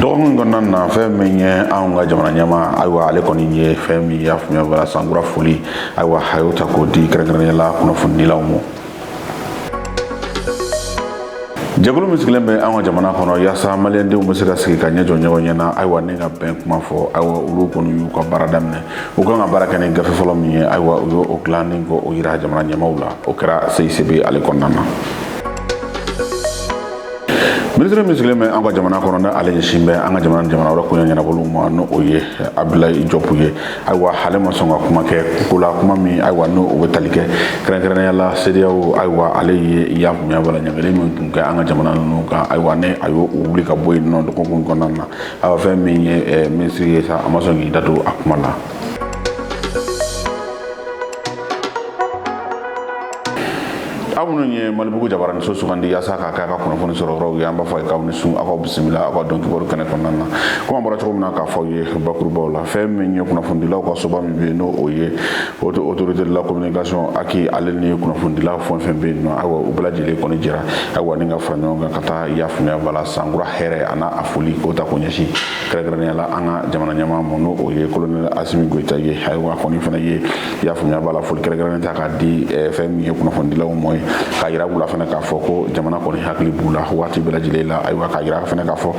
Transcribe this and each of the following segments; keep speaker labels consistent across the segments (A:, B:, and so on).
A: dɔgɔkun kɔnɔna na fɛn min ye anw ka jamana ɲɛmaa ayiwa ale kɔni ye fɛn min y'a faamuya bala sankura foli ayiwa a y'o ta k'o di kɛrɛnkɛrɛnnenya la kunnafonidilaw ma jɛkulu min sigilen bɛ an ka jamana kɔnɔ yaasa maliyɛndenw bɛ se ka sigi ka ɲɛ jɔ ɲɔgɔn ɲɛ na ayiwa ni ka bɛn kuma fɔ ayiwa olu kɔni y'u ka baara daminɛ u kan ka baara kɛ ni gafe fɔlɔ min ye ayiwa u y'o dilan ni k'o yira jamana ɲɛmaaw la o kɛra CICB ale kɔnɔna na minisiri min sigilen bɛ an ka jamana kɔnɔ ni ale ɲɛsin bɛ an ka jamana jamana wɛrɛ koɲɛ ɲɛnabɔliw ma n'o o ye abudulayi jɔpu ye ayiwa ale ma sɔn ka kuma kɛ ko la kuma min ayiwa n'o o bɛ tali kɛ kɛrɛnkɛrɛnnenya la CEDEAO ayiwa ale ye y'a faamuya bala ɲangili min tun kɛ an ka jamana ninnu kan ayiwa ni a y'o wuli ka bɔ yen nɔ dɔgɔkun kɔnɔna na ayiwa fɛn min ye eh, minisiri ye sa a ma sɔn k'i da don a kuma la aw minnu ye malibugu jabaraninso sugandi yaasa k'a kɛ a ka kunnafoni sɔrɔ yɔrɔw ye an b'a fɔ a ye k'aw ni su aw bisimila aw ka don kibaru kɛnɛ kɔnɔna na komi an bɔra cogo min na k'a fɔ aw ye bakurubaw la fɛn min ye kunnafonidilaw ka soba min bɛ yen n'o o ye autorité de la communication HAC ale ni kunnafonidilaw fɛn fɛn bɛ yen nɔ ayiwa u bɛɛ lajɛlen kɔni jɛra ayiwa ni ka fara ɲɔgɔn kan ka taa y'a faamuya bala sankura hɛrɛ ani a foli k'o ta k'o ɲɛsin kɛrɛnkɛrɛnnenya la an ka jamana ɲɛmaa ma n'o o ye kolonɛli asimi goyita ye ayiwa a kɔni fana ye i y'a faamuya b'a la foli kɛrɛnkɛrɛnnen ta k'a di eh, fɛn min ye kunnafonidilaw ma ye k'a yira u la fana k'a fɔ ko jamana kɔni hakili b'u la waati bɛɛ lajɛlen la ayiwa k'a yira fana k'a fɔ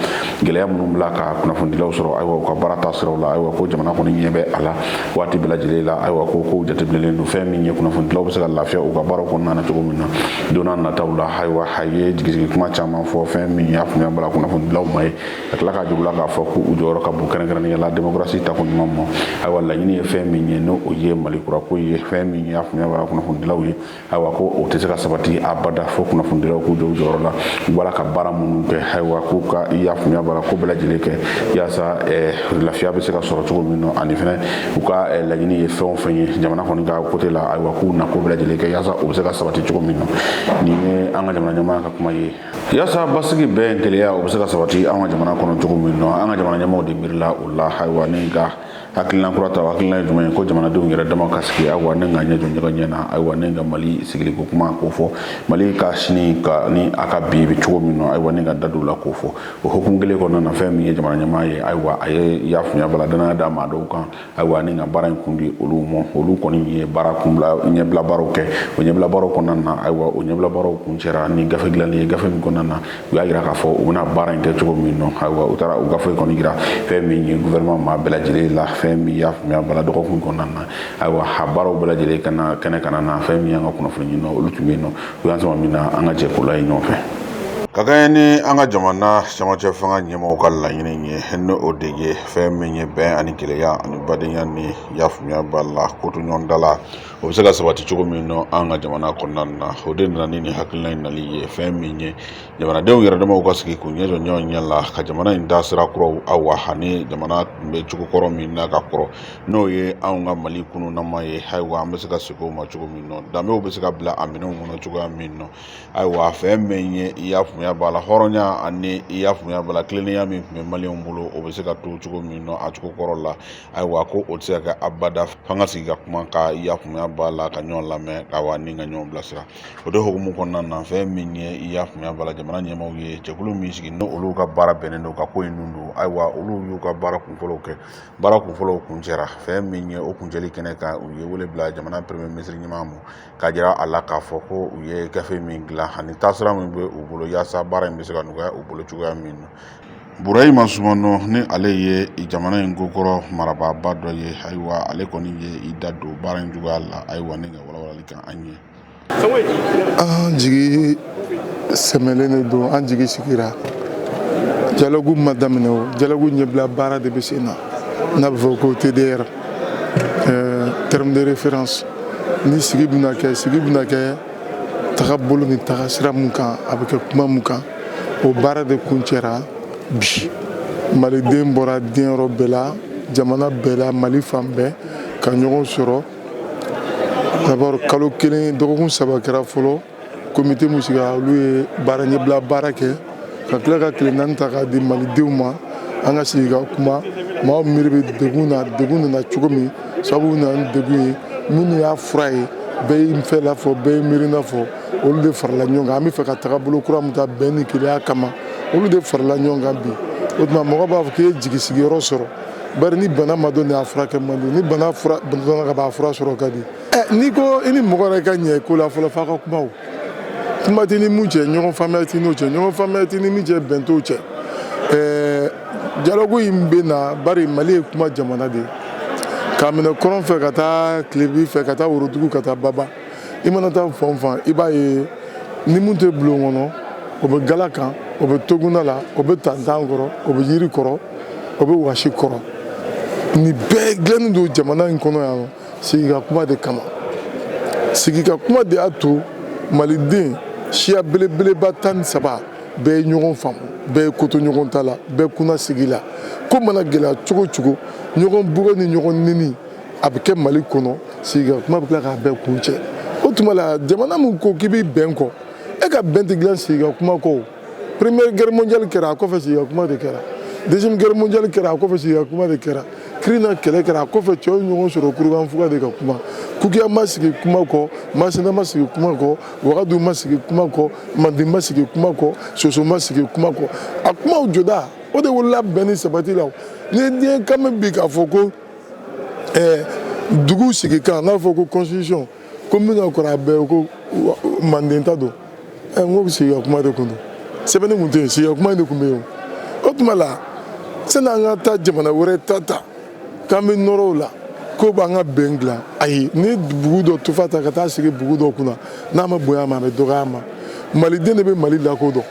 A: gɛlɛya minnu bɛ la ka kunnafonidilaw sɔrɔ ayiwa u ka baara taasiraw la ayiwa ko jamana kɔni ɲɛ bɛ a la waati bɛɛ lajɛlen la ayiwa ko kow jateminɛlen don fɛn min ye kunnafonidilaw bɛ se ka lafiya u ka baaraw kɔnɔna na cogo min na don nataw la ayiwa a ye jigisigi kuma caman fɔ fɛn min y'a faamuya b'a la kunnafonidilaw ma ye ka tila k'a jira u la k'a fɔ ko u jɔyɔrɔ ka bon kɛrɛnkɛrɛnnenya la demokarasi taako ɲuman ma ayiwa laɲini ye fɛn min ye n'o o ye mali kurako ye fɛn min y'a faamuya b'a la kunnafonidilaw ye ayiwa ko o tɛ se ka sabati abada fo kunnafonidilaw k'u jɔ u jɔyɔrɔ la u b'a la ka baara minnu kɛ ayiwa k'u ka y'a faamuya b'a la ko bɛɛ lajɛlen kɛ yaasa eh, lafiya bɛ se ka sɔrɔ cogo min na ani fana u ka eh, laɲini ye fɛn o fɛn ye jamana kɔni ka côté la ayiwa k'u na ko bɛɛ lajɛlen kɛ yaasa o bɛ se ka sabati cogo min na nin ye an ka jamana ɲɛmaa ka kuma ye yaasa basigi bɛn kelenya o bɛ se ka sabati an ka jamana kɔnɔ cogo min na an ka jamana ɲɛmaaw de miirila o la ayiwa ni ka hakilina kura ta hakilina ye jumɛn ye ko jamanadenw yɛrɛ dama ka sigi ayiwa ni ka ɲɛ jɔ ɲɔgɔn ɲɛ na ayiwa ni ka mali sigiliko kuma k'o fɔ mali ka sini ani a ka bi bɛ cogo min na ayiwa ni ka da don o la k'o fɔ o hukumu kelen kɔnɔna na fɛn min ye jamana ɲɛmaa ye ayiwa a ye y'a faamuya bala dannaya da maa dɔw kan ayiwa ni ka baara in kun di olu ma olu kɔni ye baara kunbila ɲɛbila baaraw kɛ o ɲɛbila baaraw kɔnɔna na ayiwa o ɲɛbila baaraw kuncɛra ni gafe dilanni ye gafe min kɔnɔna na u y'a yira k'a fɔ u bɛna baara in kɛ cogo min na ayiwa u taara u gafe kɔni yira fɛn min ye gouvernement maa bɛɛ lajɛlen la fɛn min y'a faamuya b'a la dɔgɔkun kɔnɔna na ayiwa a baaraw bɛɛ lajɛlen kana kɛnɛ kana na fɛn min y'an ka kunnafoni ɲininaw olu tun bɛ yen nɔ u y'an sama min na an ka jɛ k'o lajɛ ɲɔgɔn fɛ ka kɛɲɛ ni an ka jamana camancɛ fanga ɲɛmɔgɔw ka laɲini ye ni o de ye fɛn min ye bɛn ani kelenya ani badenya ni i y'a faamuya b'a la kotoɲɔgɔntala o bɛ se ka sabati cogo min na an ka jamana kɔnɔna na o de nana ni nin hakilina in nali ye fɛn min ye jamanadenw yɛrɛ damaw ka sigi k'u ɲɛ jɔ ɲɔgɔn ɲɛ la ka jamana in da sira kuraw awa ani jamana tun bɛ cogo kɔrɔ min na ka kɔrɔ n'o ye anw ka mali kununnama ye ayiwa an bɛ se ka segin o ma cogo min na danbew bɛ se ka bila a minɛnw kɔnɔ cogoya min na ayiwa fɛn min ye i y'a faamuya b'a la hɔrɔnya ani i y'a faamuya b'a la tilennenya min tun bɛ maliyɛnw bolo o bɛ se ka to cogo min na a cogo kɔrɔ la ayiwa ko o tɛ se ka kɛ abada f'an ka sigi ka kuma ka i y'a faamuya b'a la ka ɲɔgɔn lamɛn ayiwa ni ka ɲɔgɔn bilasira o de hukumu kɔnɔna na fɛn min ye i y'a faamuya b'a la jamana ɲɛmaaw ye jɛkulu min sigi n'o olu ka baara bɛnnen don ka ko in nun don ayiwa olu y'u ka baara kunfɔlɔw kɛ baara kunfɔlɔw kuncɛra fɛn min ye o kuncɛli kɛnɛ kan u ye wele bila jamana premye minisiri ɲɛmaa ma ka jira a la k'a fɔ ko u ye gafe min dilan ani taasira min bɛ u bolo yaasa baara in bɛ se ka nɔgɔya u bolo cogoya min na burahima sumano ni ale ye jamana in kokɔrɔ marabaaba dɔ ye ayiwa ale kɔni ye i da don baara in cogoya la ayiwa ne ka walawalali kan an
B: ye an jigi sɛmɛlen de don an jigi sigira dialogue ma daminɛ o dialogue ɲɛbila baara de bɛ sen na n'a bɛ fɔ ko tdr Euh, terme de référence ni sigi bɛna kɛ sigi bɛna kɛ tagabolo ni tagasira mun kan a bɛ kɛ kuma mun kan o baara de kuncɛra bi maliden bɔra diɲɛ yɔrɔ bɛɛ la jamana bɛɛ la mali fan bɛɛ ka ɲɔgɔn sɔrɔ d'abord kalo kelen dɔgɔkun saba kɛra fɔlɔ komite min sigira olu ye baara ɲɛbila baara kɛ ka tila ka tile naani ta k'a di malidenw ma an ka sigi ka kuma maaw miiri bɛ degun na degun nana cogo min sababu nana ni degun ye minnu y'a fura ye bɛɛ y'i fɛla fɔ bɛɛ y'i miirina fɔ olu de farala ɲɔgɔn kan an bɛ fɛ ka tagabolo kura min ta bɛn ni kelenya kama olu de farala ɲɔgɔn kan bi o tuma mɔgɔ b'a fɔ k'i ye jigi sigiyɔrɔ sɔrɔ bari ni bana ma dɔn de a furakɛ man di ni bana dɔnna ka ban a fura sɔrɔ ka di n'i ko i ni mɔgɔ yɛrɛ ka ɲɛ ko la fɔlɔ f'a ka kuma o kuma tɛ ni mun cɛ ɲɔgɔn faamuyali tɛ n'o cɛ ɲɔgɔn faamuyali tɛ ni min cɛ bɛn t'o cɛ dialogue in bɛ na bari mali ye kuma jamana de ye k'a minɛ kɔrɔn fɛ ka taa tilebin fɛ ka taa worodugu ka taa baba i mana taa fan o fan i b'a ye ni mun tɛ bulon kɔnɔ o bɛ gala kan o bɛ toguna la o bɛ tantan kɔrɔ o bɛ yiri kɔrɔ o bɛ wasi kɔrɔ nin bɛɛ dilannen don jamana in kɔnɔ yan sigi ka kuma de kama sigi ka kuma de y'a to maliden siya belebeleba tan ni saba bɛɛ ye ɲɔgɔn faamu bɛɛ ye koto ɲɔgɔn ta la bɛɛ kunna sigi la ko mana gɛlɛya cogo o cogo ɲɔgɔn bugɔ ni ɲɔgɔn neni a bɛ kɛ mali kɔnɔ sigi ka kuma bɛ tila k'a bɛɛ kuncɛ o tuma la jamana min ko k'i bɛ bɛn kɔ e ka bɛn tɛ dilan sigi ka kuma kɔ première guerre mondiale kɛra a kɔfɛ sigi ka kuma de kɛra deuxième guerre mondiale kɛra a kɔfɛ sigi ka kuma de kɛra kirina kɛlɛ kɛra a kɔfɛ cɛw ye ɲɔgɔn sɔrɔ kurukanfuga de ka kuma kukiya ma sigi kuma kɔ masina ma sigi kuma kɔ wagadu ma sigi kuma kɔ manden ma sigi kuma kɔ soso ma sigi kuma kɔ a kumaw jɔda o de wolola bɛn ni sabati la ni ye diɲɛ kan bɛ bi k'a fɔ ko eh, dugu sigikan n'a fɔ ko constitution ko min ka kɔrɔ a bɛɛ ko manden ta don ɛ n ko sigi ka kuma de kun don sɛbɛnni kun tɛ yen sigi ka kuma de kun bɛ yen o tuma la sani an ka taa jamana wɛrɛ ta ta k'an bɛ nɔrɔ o la k'o b'an ka bɛn dilan ayi ni bugu dɔ tufa ta ka taa sigi bugu dɔ kunna n'a ma bonya a ma a bɛ dɔgɔya a ma maliden de bɛ mali lakodɔn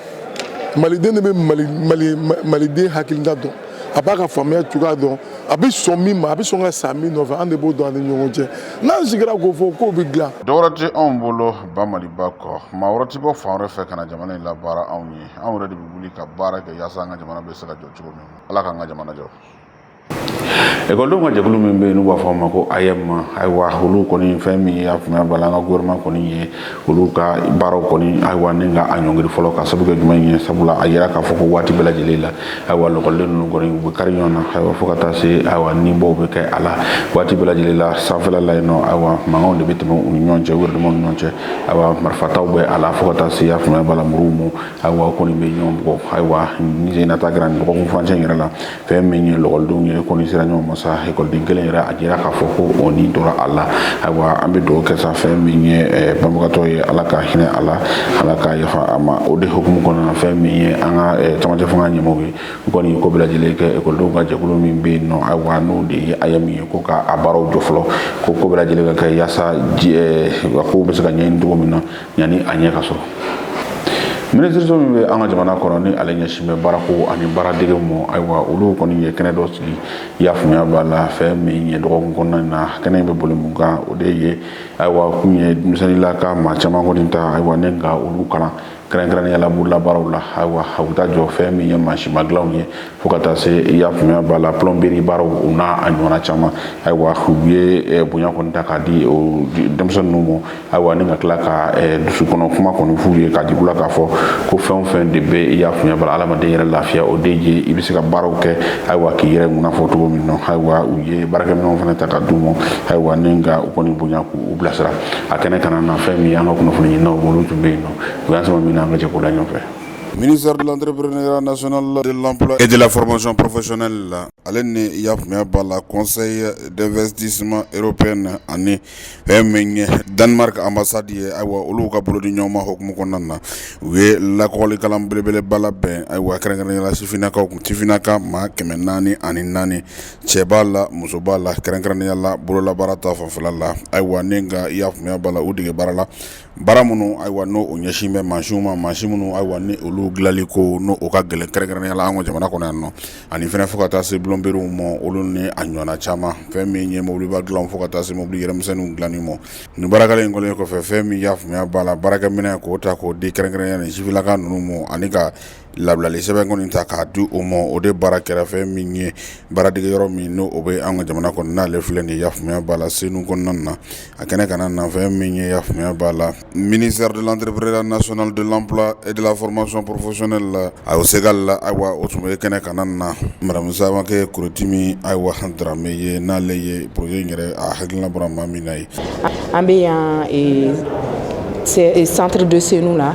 B: maliden de bɛ mali mali maliden hakilina dɔn a b'a ka faamuya cogoya dɔn a bɛ sɔn min ma a bɛ sɔn ka sa min nɔfɛ an de b'o dɔn an ni ɲɔgɔn cɛ n'an sigira k'o fɔ k'o bɛ dilan dɔwɛrɛ tɛ anw bolo
A: ba maliba kɔ maa wɛrɛ tɛ bɔ fan wɛrɛ fɛ ka na jamana in labaara anw ye anw yɛrɛ de bɛ wuli ka baara kɛ yaasa an ka jamana bɛ se ka jɔ cogo min ala k'an ka jamana jɔ ekɔlidenw ka jɛkulu min bɛ yen n'u b'a fɔ a ma ko AEEM ayiwa olu kɔni fɛn min ye a faamuya b'a la an ka gouvernement kɔni ye olu ka baaraw kɔni ayiwa ni ka a ɲɔngiri fɔlɔ ka sabu kɛ jumɛn ye sabula a yira k'a fɔ ko waati bɛɛ lajɛlen la ayiwa lakɔliden ninnu kɔni u bɛ kari ɲɔgɔn na ayiwa fo ka taa se ayiwa nibɔw bɛ kɛ a la waati bɛɛ lajɛlen la sanfɛla la yen nɔ ayiwa mankanw de bɛ tɛmɛ u ni ɲɔgɔn cɛ u yɛrɛ damaw ni ɲɔgɔn cɛ ayiwa marifataw bɛ a la fo ka taa se a faamuya b'a la muruw ma ayiwa o kɔni bɛ ɲɔgɔn bugɔ ayiwa nin sen na ta kɛra nin dɔgɔkun furancɛ in yɛrɛ la fɛn min ye lakɔlidenw ye kɔni sera ɲɔgɔn ma sa ekɔliden kelen yɛrɛ a jira k'a fɔ ko o ni tora a la ayiwa an bɛ dugawu kɛ sa fɛn min ye eh, banbagatɔ ye ala ka hinɛ a la ala ka yafa a ma o de hukumu kɔnɔna na fɛn min ye an ka eh, camancɛ fanga ɲɛmɔgɔw ye u kɔni ye ko bɛɛ lajɛlen kɛ ekɔlidenw ka jɛkulu min bɛ yen nɔ ayiwa n'o de ye AEEM ye ko ka a baaraw jɔ fɔlɔ ko ko bɛɛ lajɛlen ka kɛ yaasa eh, kow bɛ se ka ɲɛɲini cogo min na yanni a ɲɛ ka sɔrɔ minisiriso min bɛ an ka jamana kɔnɔ ni ale ɲɛsin bɛ baarako ani baaradege mɔ ayiwa olu kɔni ye kɛnɛ dɔ sigi i y'a faamuya b'a la fɛn min ye dɔgɔkun kɔnɔna na kɛnɛ in bɛ boli mun kan o de ye ayiwa kun ye denmisɛnninlaka maa caman kɔni ta ayiwa ni ka olu kalan kɛrɛnkɛrɛnnenya la bololabaaraw la ayiwa a bɛ taa jɔ fɛn min ye mansinma dilanw ye fo ka taa se i y'a faamuya b'a la plɔnberi baaraw o n'a ɲɔgɔnna caman ayiwa u ye eh, bonya kɔni ta k'a di o denmisɛnnin ninnu ma ayiwa ni ka tila ka eh, dusu kɔnɔ kuma kɔni f'u ye k'a jig'u la k'a fɔ ko fɛn o fɛn de bɛ i y'a faamuya b'a la adamaden yɛrɛ lafiya o de ye i bɛ se ka baaraw kɛ ayiwa k'i yɛrɛ ŋuna fɔ cogo min na ayiwa u ye baarakɛminɛnw fana ta ka d'u ma ayiwa ni ka u kɔni bonya k'u bilasira a kɛnɛ kana na fɛn min ye an ka kunnafoni ɲininaw olu tun bɛ yen nɔ u y'an sama min na an ka jɛ k'o lajɛ ɲɔgɔn fɛ ministère de l'entrepreneuriat national de l'emploi et de la formation professionnelle la ale ni y'a faamuya b'a la conseil d'investissement européen ani Danemark ambassade ye ayiwa olu ka bolo di ɲɔgɔn ma hukumu kɔnɔna na u ye lakɔli kalan belebeleba labɛn ayiwa kɛrɛnkɛrɛnnenya la sifinnakaw kun sifinnaka maa kɛmɛ naani ani naani cɛ b'a la muso b'a la kɛrɛnkɛrɛnnenya la bololabaara ta fanfɛla la ayiwa ni ka i y'a faamuya b'a la u dege baara la Baara minnu ayiwa n'o o ɲɛsin bɛ mansin ma mansin minnu ayiwa ni olu dilanli ko n'o ka gɛlɛn kɛrɛnkɛrɛnnenya la an ka jamana kɔnɔ yan nɔ ani fɛnɛ fo ka taa se plɔnberiw ma olu ni a ɲɔgɔnna caman fɛn min ye mobiliba dilan fo ka taa se mobili yɛrɛmisɛnninw dilanni ma nin baara kalan in kɛlen kɔfɛ fɛn min y'a faamuya b'a la baarakɛminɛn k'o ta k'o di kɛrɛnkɛrɛnnenya nin sifinnaka ninnu ma ani ka labilali sɛbɛn kɔni ta k'a di o ma o de baara kɛra fɛn min ye baaradege yɔrɔ min n'o o bɛ an ka jamana kɔnɔ n'ale filɛ nin y'a faamuya b'a la senu kɔnɔna na a kɛnɛ kana na fɛn min ye i y'a faamuya b'a la ministère de l'entrepreneuriat national de l'emploi et de la formation professionnelle la a ségal ayiwa o tun bɛ kɛnɛ kana na madame Samakɛ Korotimi ayiwa Darame ye n'ale ye projet in yɛrɛ a hakilina bɔra maa min na ye an bɛ yan
C: santiri de senu na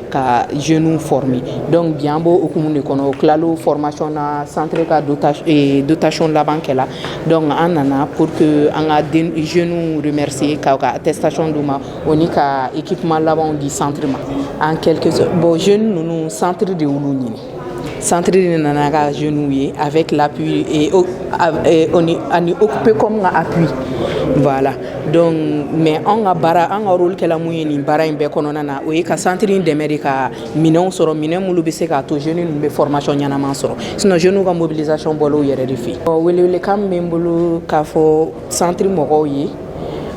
C: ka jeunes former donc bi an b'o hukumu de kɔnɔ u tilala formation na centre ka dotation eh, dotation laban kɛla donc an nana pour que an ka den jeunes remercier k'u ka attestation d'u ma o ni ka équipement labanw di centre ma en quelque sorte bon jeunes ninnu centre de y'olu ɲini Centre de nana ka jeunes ye avec l'appui e ani bɛ kɔn ka appui voilà donc mais an ka baara an ka rôle kɛla mun ye nin baara in bɛɛ kɔnɔna na o ye ka centre dɛmɛ de ka minɛn sɔrɔ minɛn minnu bɛ se k'a to jeunes ninnu bɛ formation ɲɛnama sɔrɔ sinon jeunes ka mobilisation b'olu yɛrɛ de fɛ ɔ welewelekan bɛ n bolo k'a fɔ Centre mɔgɔw ye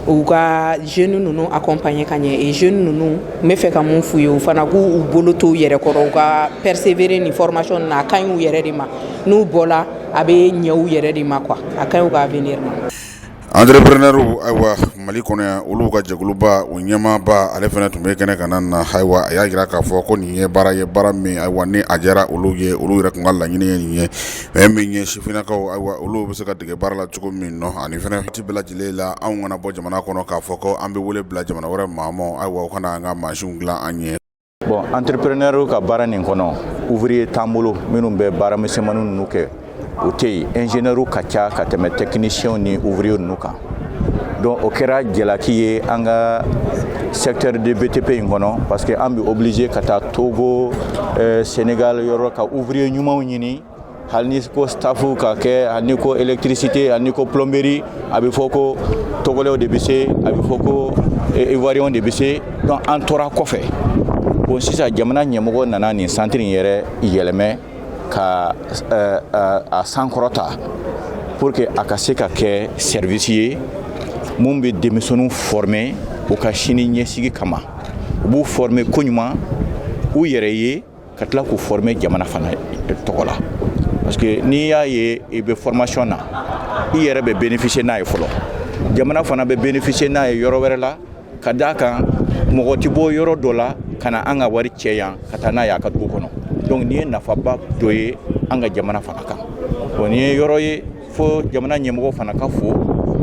C: u ka jeunes ninnu accompagner ka ɲɛ jeunes ninnu n bɛ fɛ ka mun f'u ye u fana k'u bolo t'u yɛrɛ kɔrɔ u ka persévérer nin formation na a ka ɲi u yɛrɛ de ma n'u bɔla a bɛ ɲɛ u yɛrɛ de ma quoi a ka ɲi u ka avenir ma entrepreneurw
A: ayiwa mali kɔnɔ yan olu ka jɛkuluba o ɲɛmaaba ale fana tun bɛ kɛnɛ kan na ayiwa a y'a jira k'a fɔ ko nin ye baara ye baara min ayiwa ni a diyara olu ye olu yɛrɛ tun ka laɲini ye nin ye Fɛn min ye sifinnakaw ayiwa olu bɛ se ka dege baara la cogo min na ani fana waati bɛɛ lajɛlen la anw kana bɔ jamana kɔnɔ k'a fɔ ko an bɛ wele bila jamana wɛrɛ maa ma ayiwa o ka na an ka mansinw dilan an ɲɛ bon
D: entrepreneur ka baara nin kɔnɔ ouvrier t'an bolo minnu bɛ baara misɛnmanin ninnu kɛ o tɛ yen ingénieur ka ca ka tɛmɛ technicien ni ouvrier ninnu kan donc o kɛra jalaki ye an ka secteur de btp in kɔnɔ parce que an bɛ obligé ka taa togo eh, senegal yɔrɔ ka ouvrier ɲumanw ɲini hali ni ko staff ka kɛ hali ni ko électricité hali ni ko plomberie a bɛ fɔ ko togolɛw de bɛ se a bɛ fɔ ko eh, ivoirienw de bɛ se donc an tora kɔfɛ bon sisan jamana ɲɛmɔgɔ nana nin santiri in yɛrɛ yɛlɛmɛ ka eh, eh, a sankɔrɔta pour que a ka se ka kɛ service ye min bɛ denmisɛnninw former u ka sini ɲɛsigi kama u b'u former koɲuman u yɛrɛ ye ka tila k'u former jamana fana tɔgɔ la parce que n'i y'a ye i bɛ formation na i yɛrɛ bɛ bénéficier n'a ye fɔlɔ jamana fana bɛ bénéficier n'a ye yɔrɔ wɛrɛ la ka d'a kan mɔgɔ tɛ bɔ yɔrɔ dɔ la ka na an ka wari cɛ yan ka taa n'a y'a ka dugu kɔnɔ donc nin ye nafaba dɔ ye an ka jamana fana kan bon nin ye yɔrɔ ye fo jamana ɲɛmɔgɔ fana ka fo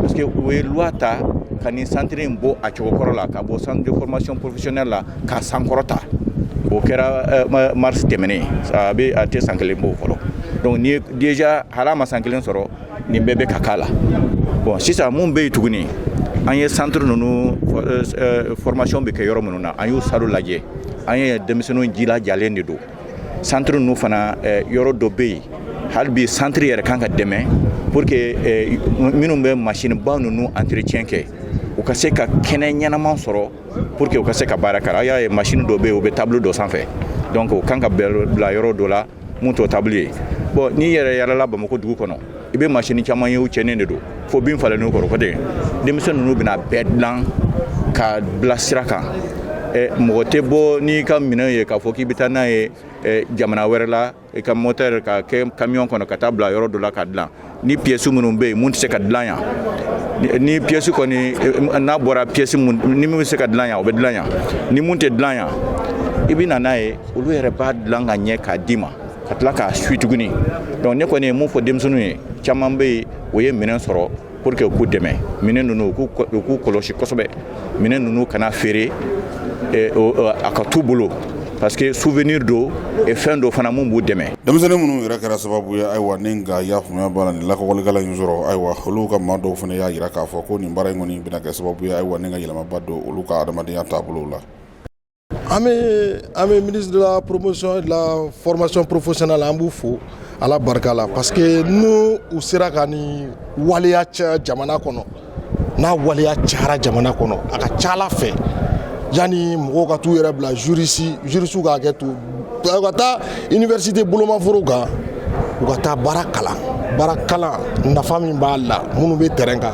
D: parce que u ye loi ta ka nin centre in bɔ a cogo kɔrɔ la k'a bɔ centre de formation professionnelle la k'a sankɔrɔta o kɛra euh, mars tɛmɛnen a bɛ a tɛ san kelen bɔ fɔlɔ donc nin ye déjà hal'a ma san kelen sɔrɔ nin bɛɛ bɛ ka k'a la bon sisan mun bɛ yen tuguni an ye centre ninnu euh, euh, formation bɛ kɛ yɔrɔ minnu na an y'u salle lajɛ an ye denmisɛnninw jilajalen de don centre ninnu fana euh, yɔrɔ dɔ bɛ yen hali bi centre yɛrɛ kan ka dɛmɛ pour que minnu bɛ machine ba ninnu entretien kɛ u ka se ka kɛnɛ ɲɛnama sɔrɔ pour que u ka se ka baara kɛ aw y'a ye machine dɔ bɛ yen u bɛ table dɔ sanfɛ donc u kan ka bila yɔrɔ dɔ la mun t'o table ye bon n'i yɛrɛ yalala bamako dugu kɔnɔ i bɛ masini caman ye u cɛnnen de don fo bin falenn'u kɔrɔ ko ten denmisɛn ninnu bɛna bɛɛ dilan ka bila sira kan mɔgɔ tɛ bɔ n'i ka minɛn ye k'a fɔ k'i bɛ taa n'a ye jamana wɛrɛ la i ka moteur ka kɛ camion kɔnɔ ka taa bila yɔrɔ dɔ la ka dilan ni piyɛsi minnu bɛ yen mun tɛ se ka dilan yan ni piyɛsi kɔni eh, n'a bɔra piyɛsi ni min bɛ se ka dilan yan o bɛ dilan yan ni mun tɛ dilan yan i bɛ na n'a ye olu yɛrɛ b'a dilan ka ɲɛ k'a d'i ma ka tila k'a suivi tuguni donc ne kɔni ye mun fɔ denmisɛnninw ye caman bɛ yen o ye minɛn sɔrɔ pour que u k'u dɛmɛ minɛn ninnu u k'u kɔlɔsi kosɛbɛ minɛn ninnu kana feere eh, o- o- a ka t'u bolo parce que souvenir don et fɛn dɔ fana mun b'u dɛmɛ denmisɛnnin minnu yɛrɛ kɛra
A: sababu ye ayiwa ni ka y'a faamuya b'a la nin lakɔli kalan in sɔrɔ ayiwa olu ka maa dɔw fana y'a jira k'a fɔ ko nin baara in kɔni bɛna kɛ sababu ye ayiwa ni ka yɛlɛmaba don olu ka adamadenya taabolow la an
B: bɛ an bɛ ministre de la promotion et de la formation professionnelle an b'u fo Ala barika la parce que n'u u sera ka nin waleya caya jamana kɔnɔ n'a waleya cayara jamana kɔnɔ a ka ca Ala fɛ yanni mɔgɔw ka t'u yɛrɛ bila jurisi jurisiw k'a kɛ to u ka taa université bolomafaraw kan u ka taa baara kalan baara kalan nafa min b'a la minnu bɛ terrain kan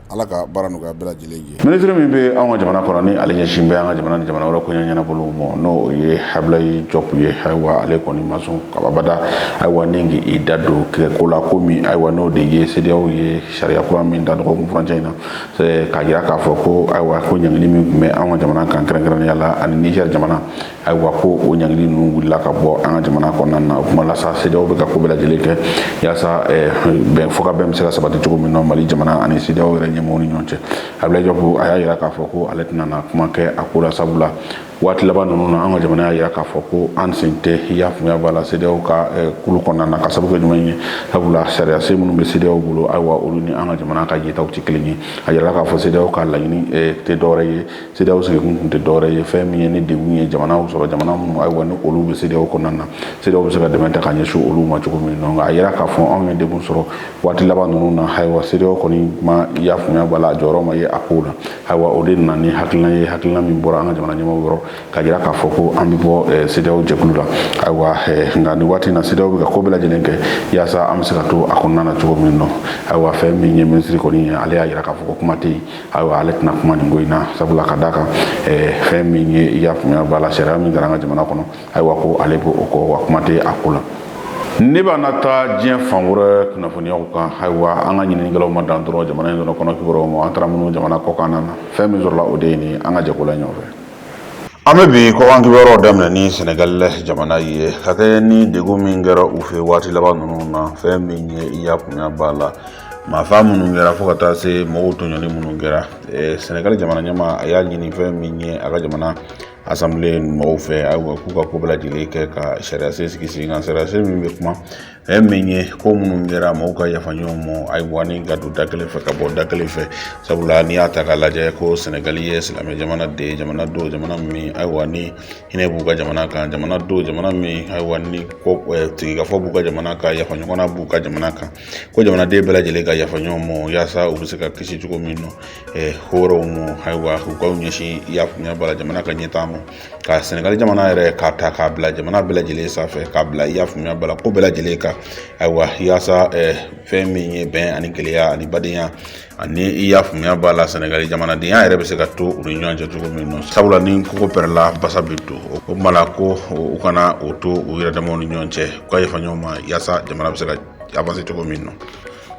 A: Ala ka baara nɔgɔya bɛɛ lajɛlen ye minisiri min bɛ anw ka jamana kɔnɔ ni ale ɲɛsin bɛ an ka jamana ni jamana wɛrɛ koɲɛ ɲɛnabɔli ma n'o ye Ablaye Diop ye ayiwa ale kɔni ma sɔn ka abada ayiwa ni k'i da don kɛ ko la ko min ayiwa n'o de ye CEDEAO ye sariya kura min da dɔgɔkun furancɛ in na k'a jira k'a fɔ ko ayiwa ko ɲangili min tun bɛ an ka jamana kan kɛrɛnkɛrɛnnenya la ani Niger jamana ayiwa ko o ɲangili ninnu wulila ka bɔ an ka jamana kɔnɔna na o kuma la sa CEDEAO bɛ ka ko bɛɛ lajɛlen kɛ yaasa eh, bɛn fɔkabɛn bɛ se ka sabati cogo min na Mali jamana ani CEDEAO yɛrɛ ɲɛmɔgɔw ni ɲɔgɔn cɛ Ablaye Diop a y'a yira k'a fɔ ko ale tɛna na kuma kɛ a ko la sabula waati laban ninnu na an ka jamana y'a yira k'a fɔ ko an sen tɛ i y'a faamuya b'a la CEDEAO ka eh, kulu kɔnɔna na ka sabu kɛ jumɛn ye sabula sariyasen minnu bɛ CEDEAO bolo ayiwa olu ni an ka jamana ka yetaw tɛ kelen ye a yirala k'a fɔ CEDEAO ka laɲini eh, tɛ dɔwɛrɛ ye CEDEAO sigikun tun tɛ dɔwɛrɛ ye fɛn min ye ni degun ye jamanaw sɔrɔ jamana minnu ayiwa ni olu bɛ CEDEAO kɔnɔna na CEDEAO bɛ se ka dɛmɛ ta ka ɲɛsin olu ma cogo min donc a yera k'a fɔ anw ye degun sɔrɔ waati laban ninnu na ayiwa CEDEAO kɔni ma y'a faamuya b'a la a jɔyɔrɔ ma ye a kow la ayiwa o de nana ni hakilina ye hakilina min bɔra an ka jamana ɲɛmaaw yɔrɔ k'a jira k'a fɔ ko an bɛ bɔ CEDEAO eh, jɛkulu la ayiwa eh, nka nin waati in na CEDEAO bɛ ka ko bɛɛ lajɛlen kɛ yaasa an bɛ se ka to a kɔnɔna na cogo min nɔ ayiwa fɛn min ye minisiri kɔni ye ale y'a jira k'a fɔ ko kuma tɛ yen ayiwa ale tɛna kuma nin ko in na sabula ka da kan eh, fɛn min ye i y'a faamuya b'a la sariya min taara an ka jamana kɔnɔ ayiwa ko ale b'o kɔ wa kuma tɛ a ko la ne b'a na taa diɲɛ fan wɛrɛ kunnafoniyaw kan ayiwa an ka ɲininikɛlaw ma dan dɔrɔn jamana in dɔrɔn kɔnɔ kibaruyaw ma an taara minnu jamana kɔkan na fɛn min sɔrɔla o de ye nin an ka jɛko la ɲɔgɔn fɛ an bɛ bi kɔkan kibaruyaw daminɛ ni sɛnɛgali jamana ye ka kɛ ni degun min kɛra u fɛ waati laban ninnu na fɛn min ye i y'a faamuya b'a la maafa minnu kɛra fo ka taa se mɔgɔw tɔɲɔli minnu kɛra sɛnɛgali jamana ɲɛmaa a y'a ɲini fɛn min ye a ka jamana asanbile mɔgɔw fɛ ayiwa k'u ka ko bɛɛ lajɛlen kɛ ka sariya sen sigi sen kan sariya sen min bɛ kuma fɛn min ye ko minnu kɛra mɔgɔw ka yafa ɲɔgɔn ma ayiwa ni ka don da kelen fɛ ka bɔ da kelen fɛ sabula n'i y'a ta k'a lajɛ ko sɛnɛgali ye silamɛ jamana de ye jamana don jamana min ayiwa ni hinɛ b'u ka jamana kan jamana don jamana min ayiwa ni ko sigikafɔ b'u ka jamana kan yafa ɲɔgɔnna b'u ka jamana kan ko jamanaden bɛɛ lajɛlen ka yafa ɲɔgɔn ma yaasa u bɛ se ka kisi cogo min na ko wɛrɛw ma ayiwa u k'u ɲɛsin i y'a faamuya b'a la jamana ka ɲɛtaa ma ka sɛnɛgali jamana yɛrɛ k'a ta k'a bila jamana bɛɛ lajɛlen sanfɛ k'a bila i y'a faamuya b'a la ko bɛɛ lajɛlen kan ayiwa yaasa fɛn min ye bɛn ani kelenya ani badenya ani i y'a faamuya b'a la sɛnɛgali jamanadenya yɛrɛ bɛ se ka to u ni ɲɔgɔn cɛ cogo min na sabula ni kogo pɛrɛla basa bɛ don o kuma la ko u kana o to u yɛrɛ damaw ni ɲɔgɔn cɛ u ka yafa ɲɔgɔn ma yaasa jamana bɛ se ka avanse cogo min na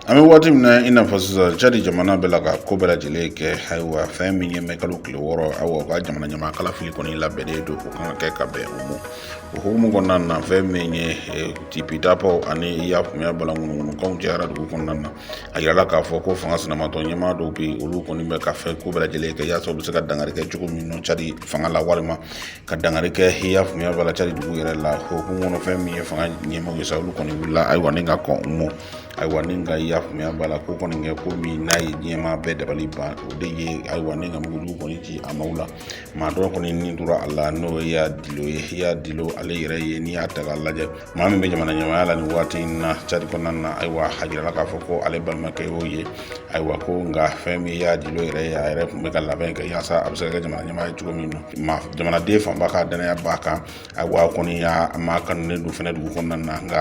A: an bɛ waati min na i n'a fɔ sisan cadi jamana bɛ la ka ko bɛɛ lajɛlen kɛ ayiwa fɛn min ye mɛkalo tile wɔɔrɔ awa u ka jamana ɲɛmaa kalafili kɔni labɛnnen don o kan ka kɛ ka bɛn o ma o hukumu kɔnɔna na fɛn min ye eh, tipi dapaw ani i y'a faamuya b'a la ŋunuŋunukanw cayara dugu kɔnɔna na a yirala k'a fɔ ko fanga sinamatɔ ɲɛmaa dɔw bɛ yen olu kɔni bɛ ka fɛn ko bɛɛ lajɛlen kɛ yaasa u bɛ se ka dangari kɛ cogo min na cadi fanga la walima ka dangari kɛ i y'a faamuya b'a la cadi dugu yɛrɛ la o hukumu kɔnɔ fɛn min ye fanga ɲɛmaaw ye sa olu kɔni wulila ayiwa ni ka kɔn u ma ayiwa ni ka i y'a faamuya b'a la ko kɔni kɛ ko min n'a ye diɲɛmaa bɛɛ dabali ban o de ye ayiwa ni ka mugujugu kɔni ci a maaw la maa dɔ kɔni ni tora a la n'o ye yaya dilo ye yaya dilo ale yɛrɛ ye n'i y'a ta k'a lajɛ maa min bɛ jamana ɲɛmaaya la nin waati in na cadi kɔnɔna na ayiwa a jirala k'a fɔ ko ale balimakɛ y'o ye ayiwa ko nka fɛn min yaya dilo yɛrɛ ye a yɛrɛ tun bɛ ka labɛn kɛ yaasa a bɛ se ka kɛ jamana ɲɛmaa ye cogo min na jamanaden fanba ka danaya b'a kan ayiwa kɔni y'a maa kanulen don fɛnɛ dugu kɔnɔna na nka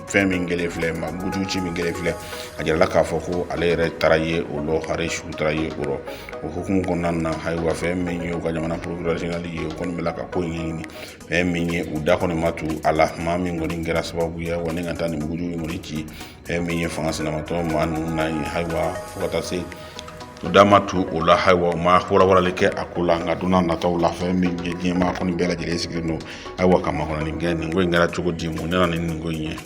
A: fɛn min kɛlen filɛ mugujugu ci min kɛlen filɛ a jirala k'a fɔ ko ale yɛrɛ taara ye o lɔ hare su taara ye o rɔ o hukumu kɔnɔna na ayiwa fɛn min ye u ka jamana porokirɛri ye o kɔni bɛ la ka ko ɲɛɲini fɛn min ye u da kɔni ma tu a la maa min kɔni kɛra sababu ye ayiwa ni ka taa nin mugujugu in kɔni ci fɛn min ye fanga sinamatɔ maa ninnu na yen ayiwa fo ka taa se u da ma tu o la ayiwa u ma walawalali kɛ a ko la nka don n'a nataw la fɛn min ye diɲɛmaa kɔni bɛɛ lajɛlen sigilen don ayiwa ka makɔnɔni kɛ nin ko in kɛra cogo di mun nana ni nin ko in ye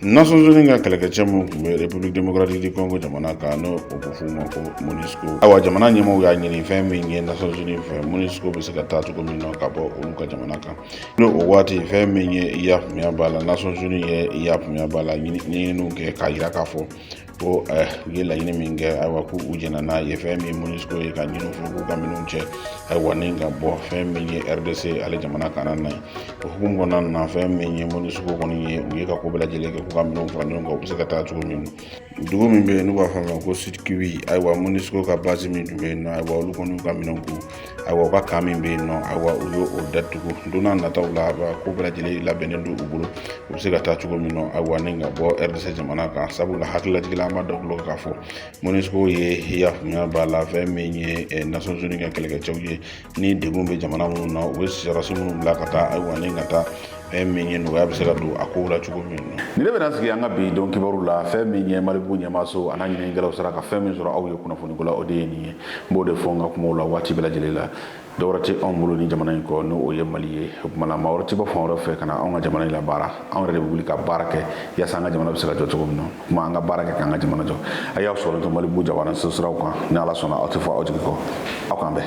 A: nations unies ka kɛlɛkɛcɛ minnu tun bɛ république démocratique du congo jamana kan n'o o bɛ f'u ma ko monusco ayiwa jamana ɲɛmaaw y'a ɲini fɛn min ye nations unies fɛ monusco bɛ se ka taa cogo min na ka bɔ olu ka jamana kan n'o o waati fɛn min ye i y'a faamuya b'a la nations unies ye i y'a faamuya b'a la ɲininiw kɛ k'a jira k'a fɔ ko eh, u ye laɲini min kɛ ayiwa ko u jɛnna n'a ye fɛn min monusco ye k'a ɲin'u fɛ k'u ka minɛnw cɛ ayiwa ni ka bɔ fɛn min ye rdc ale jamana kanna na ye o hukumu kɔnɔna na fɛn min ye monusco kɔni ye u ye ka ko bɛɛ lajɛlen kɛ k'u ka minɛnw fara ɲɔgɔn kan u bɛ se ka taa cogo min dugu min bɛ yen n'u b'a fɔ a ma ko sud-kivu ayiwa monusco ka base min tun bɛ yen nɔ ayiwa olu kɔni y'u ka minɛnw ko ayiwa u ka camp min bɛ yen nɔ ayiwa u y'o datugu don n'a nataw la ko bɛɛ lajɛlen labɛnnen don u bolo u bɛ se ka taa cogo min na ayiwa ni ka bɔ rdc jamana kan sabula hakililajigi la an b'a d'aw tulo k'a fɔ monusco ye i y'a faamuya b'a la fɛn min ye eh, nations unies ka kɛlɛkɛcɛw ye ni degun bɛ jamana minnu na u bɛ sɔrɔsi minnu bila ka taa ayiwa ni ka taa fɛn min ye nɔgɔya bɛ se ka don a kow la cogo min na ni ne bɛna sigi an ka bi don kibaru la fɛn min ye malibu ɲɛmaaso a n'a ɲininikɛlaw sera ka fɛn min sɔrɔ aw ye kunnafoniko la o de ye nin ye n b'o de fɔ n ka kumaw la waati bɛɛ lajɛlen la dɔwɛrɛ tɛ anw bolo ni jamana in kɔ n'o o ye mali ye o tuma na maa wɛrɛ tɛ bɔ fan wɛrɛ fɛ ka na anw ka jamana in labaara anw yɛrɛ de bɛ wuli ka baara kɛ yaasa an ka jamana bɛ se ka jɔ cogo min na o tuma an ka baara kɛ k'an ka jamana jɔ a y'aw sɔrɔ to malibu jabaraninso siraw kan ni ala sɔnna aw tɛ fɔ aw jigi kɔ aw k'an bɛn